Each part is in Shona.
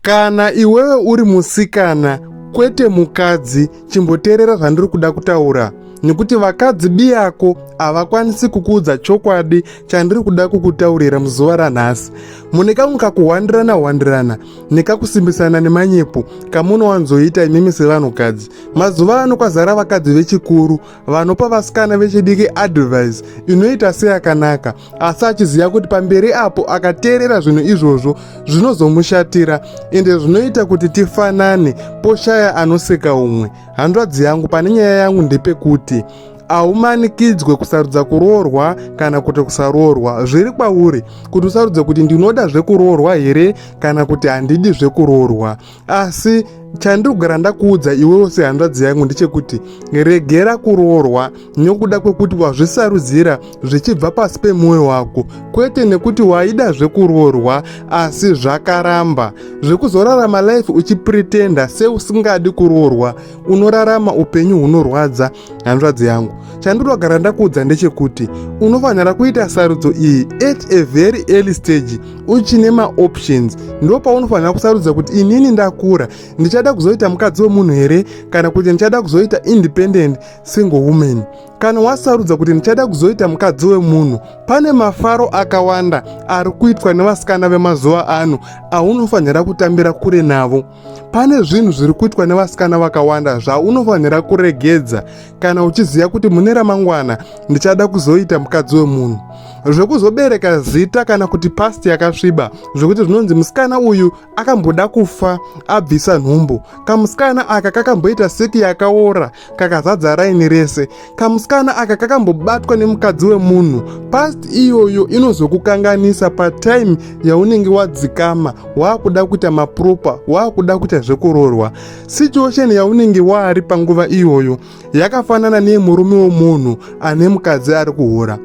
Kana iwewe uri musikana kwete mukadzi chimboteerera zvandiri kuda kutaura nekuti vakadzi biyako havakwanisi kukuudza chokwadi chandiri kuda kukutaurira muzuva ranhasi mune kamwe kakuhwandirana hwandirana nekakusimbisana nemanyepo kamunowanzoita imimi sevanhukadzi mazuva ano kwazara vakadzi vechikuru vanopa vasikana vechidiki advise inoita seyakanaka asi achiziva kuti pamberi apo akateerera zvinhu izvozvo zvinozomushatira ende zvinoita kuti tifanane poshaya anoseka umwe hanzvadzi yangu pane nyaya yangu ndepekuti haumanikidzwe kusarudza kuroorwa kana kuti kusaroorwa zviri kwauri kuti usarudze kuti ndinoda zvekuroorwa here kana kuti handidi zvekuroorwa asi chandiri kugara ndakuudza iwewo sehanzvadzi yangu ndechekuti regera kuroorwa nokuda kwekuti wazvisarudzira zvichibva pasi pemwoyo wako kwete nekuti waida zvekuroorwa asi zvakaramba zvekuzorarama life uchipretenda seusingadi kuroorwa unorarama upenyu hunorwadza hanzvadzi yangu chandinogara ndakuudza ndechekuti unofanira kuita sarudzo iyi at a very early stage uchine maoptions ndo paunofanira kusarudza kuti inini ndakura ndichada kuzoita mukadzi wemunhu here kana kuti ndichada kuzoita independent single woman kana wasarudza kuti ndichada kuzoita mukadzi wemunhu pane mafaro akawanda ari kuitwa nevasikana vemazuva ano aunofanira kutambira kure navo pane zvinhu zviri kuitwa nevasikana vakawanda zvaunofanira kuregedza kana uchiziva kuti mune ramangwana ndichada kuzoita mukadzi wemunhu zvekuzobereka zita kana kuti pasti yakasviba zvekuti zvinonzi musikana uyu akamboda kufa abvisa nhumbu kamusikana aka kakamboita seki yakaora kakazadza raini rese kamusikana aka kakambobatwa nemukadzi wemunhu past iyoyo inozokukanganisa patime yaunenge wadzikama waakuda kuita mapropa waakuda kuita zvekurorwa situation yaunenge waari panguva iyoyo yakafanana neyemurume wemunhu ane mukadzi ari kuhura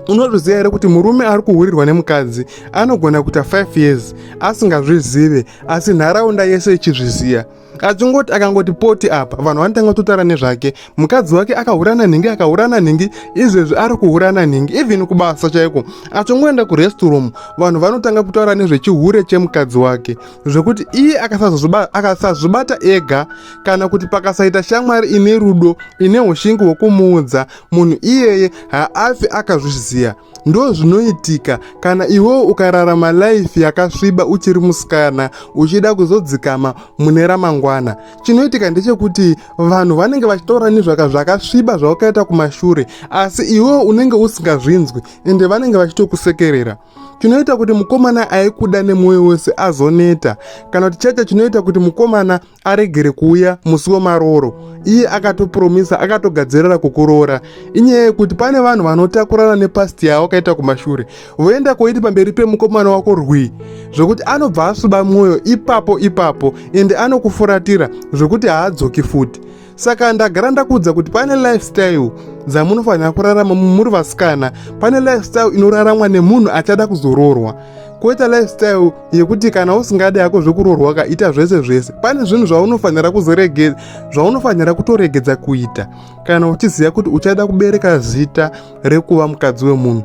unozviziva here kuti murume ari kuhurirwa nemukadzi anogona kuita 5 years asingazvizive asi nharaunda yese ichizviziva achingoti akangoti poti apa vanhu vanotanga kutotara nezvake mukadzi wake akahurana nhingi akahurana nhingi izvezvi ari kuhurana nhingi even kubasa chaiko achingoenda kurestroom vanhu vanotanga kutaura nezvechihure chemukadzi wake zvekuti iye akasazvibata ega kana kuti pakasaita shamwari ine rudo ine ushingi hwekumuudza munhu iyeye haafi akazviziva ndo zvinoitika kana iwewo ukararama life yakasviba uchiri musikana uchida kuzodzikama mune ramangwana chinoitika ndechekuti vanhu vanenge vachitaura nezvaka zvakasviba zvawakaita kumashure asi iwewo unenge usingazvinzwi ende vanenge vachitokusekerera chinoita kuti mukomana aikuda nemwoyo wese azoneta kana kuti chacho chinoita kuti mukomana aregere kuuya musi wemarooro iye akatopromisa akatogadzirira kukuroora inyaya yekuti pane vanhu vanotakurana nepasti yavo akaita kumashure voenda koiti pamberi pemukomana wako rwii zvekuti anobva asuba mwoyo ipapo ipapo ende anokufuratira zvekuti haadzoki futi saka ndagara ndakuudza kuti pane lifestyle dzamunofanira kurarama muri vasikana pane lifestyle inoraramwa nemunhu achada kuzoroorwa koita lifestyle yekuti kana usingadi yako zvekuroorwa kaita zvese zvese pane zvinhu zvaunofanira kuzoregedza zvaunofanira kutoregedza kuita kana uchiziva kuti uchada kubereka zita rekuva mukadzi wemunhu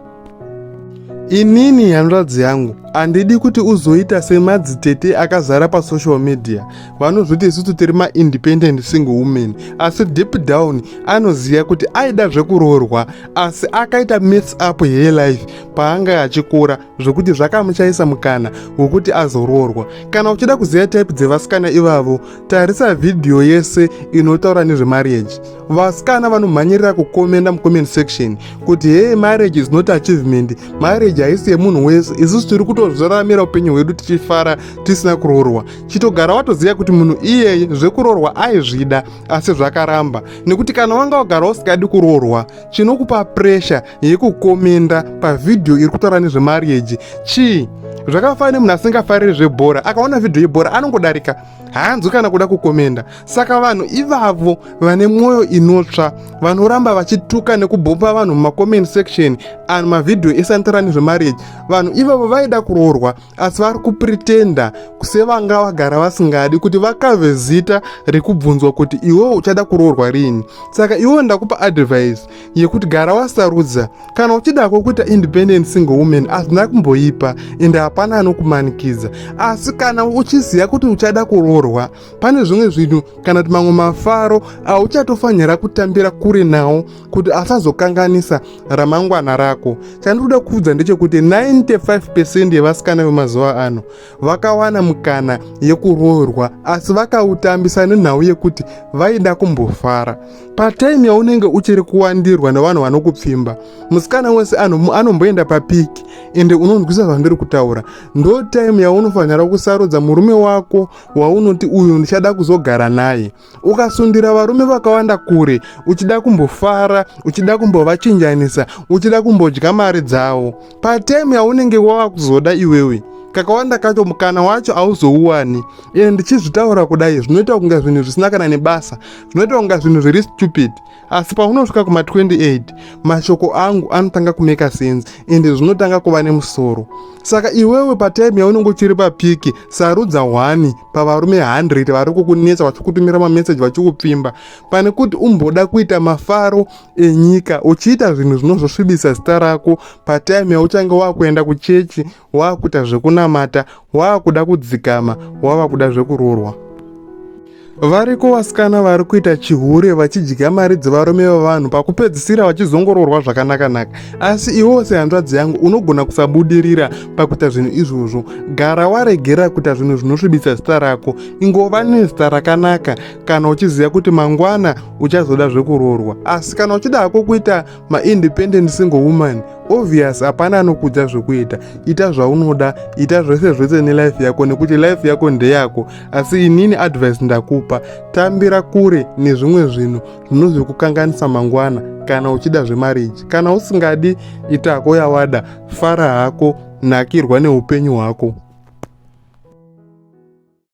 Inini hanzvadzi yangu handidi kuti uzoita semadzitete akazara pasocial media vanozviti isusu tiri maindependent single woman asi deep down anoziva kuti aida zvekuroorwa asi akaita mess up here life paanga achikura zvekuti zvakamuchaisa mukana wekuti azoroorwa kana uchida kuziva type dzevasikana ivavo tarisa vhidhiyo yese inotaura nezvemarriage vasikana vanomhanyirira kukomenda mucomment section kuti hee marriage is not achievement marriage haisi yemunhu wese isusu tiri kutozviraramira upenyu hwedu tichifara tisina kuroorwa chitogara watoziva kuti munhu iyeye zvekuroorwa aizvida asi zvakaramba nekuti kana wanga wagara usikadi kuroorwa chinokupa presha yekukomenda pavhidhiyo iri kutaura nezvemarriage chii zvakafanira nemunhu asingafariri zvebhora akaona vhidhiyo yebhora anongodarika haanzwi kana kuda kukomenda saka vanhu ivavo vane mwoyo inotsva vanoramba vachituka nekubhomba vanhu mumacomment section and mavhidhiyo esantara nezvemarriage vanhu ivavo vaida kuroorwa asi vari kupretenda sevanga vagara vasingadi kuti vakave zita rekubvunzwa kuti iwewo uchada kuroorwa rini saka iwewo ndakupa advice yekuti gara wasarudza kana uchida kwokuita independent single woman hazvina kumboipa ende hapana anokumanikidza asi kana uchiziva kuti uchada kuroorwa pane zvimwe zvinhu kana kuti mamwe mafaro auchatofanira kutambira kure nawo kuti asazokanganisa ramangwana rako chandikuda kuudza ndechekuti 95 pecent yevasikana vemazuva ano vakawana mukana yekuroorwa asi vakautambisa nenhau yekuti vaida kumbofara Patime yaunenge uchiri kuwandirwa nevanhu vanokupfimba, musikana wese anomboenda papiki ende unonzwisa zvandiri kutaura. Ndo time yaunofanira kusarudza murume wako waunoti uyu ndichada kuzogara naye. Ukasundira varume vakawanda kure, uchida kumbofara, uchida kumbovachinjanisa, uchida kumbodya mari dzavo. Patime yaunenge wava kuzoda iwewe kakawanda kacho mukana wacho hauzouwani ende ndichizvitaura kudai zvinoita kunge zvinhu zvisina kana nebasa zvinoita kunga zvinhu zviri stupid asi paunosvika kuma 28 mashoko angu anotanga kumeka sense ende zvinotanga kuva nemusoro saka iwewe patime yaunenge uchiri papiki sarudza hwani pavarume 100 vari kukunetsa vachikutumira mameseji vachikupfimba pane kuti umboda kuita mafaro enyika uchiita zvinhu zvinozosvibisa zita rako patime yauchange wakuenda kuchechi wava kuita zvekunamata wava kuda kudzikama wava kuda zvekuroorwa variko vasikana vari kuita chihure vachidya mari dzevarume vevanhu pakupedzisira vachizongororwa zvakanakanaka asi iwewo sehanzvadzi yangu unogona kusabudirira pakuita zvinhu izvozvo gara waregera kuita zvinhu zvinosvibisa zita rako ingova nezita rakanaka kana uchiziva kuti mangwana uchazoda zvekuroorwa asi kana uchida hako kuita maindependent single woman obvious hapana anokudza zvekuita ita zvaunoda ita zvese zvese nelife yako nekuti life yako ndeyako asi inini advice ndakupa tambira kure nezvimwe zvinhu zvinozokukanganisa mangwana kana uchida zvemariji kana usingadi itako yawada fara hako nakirwa neupenyu hwako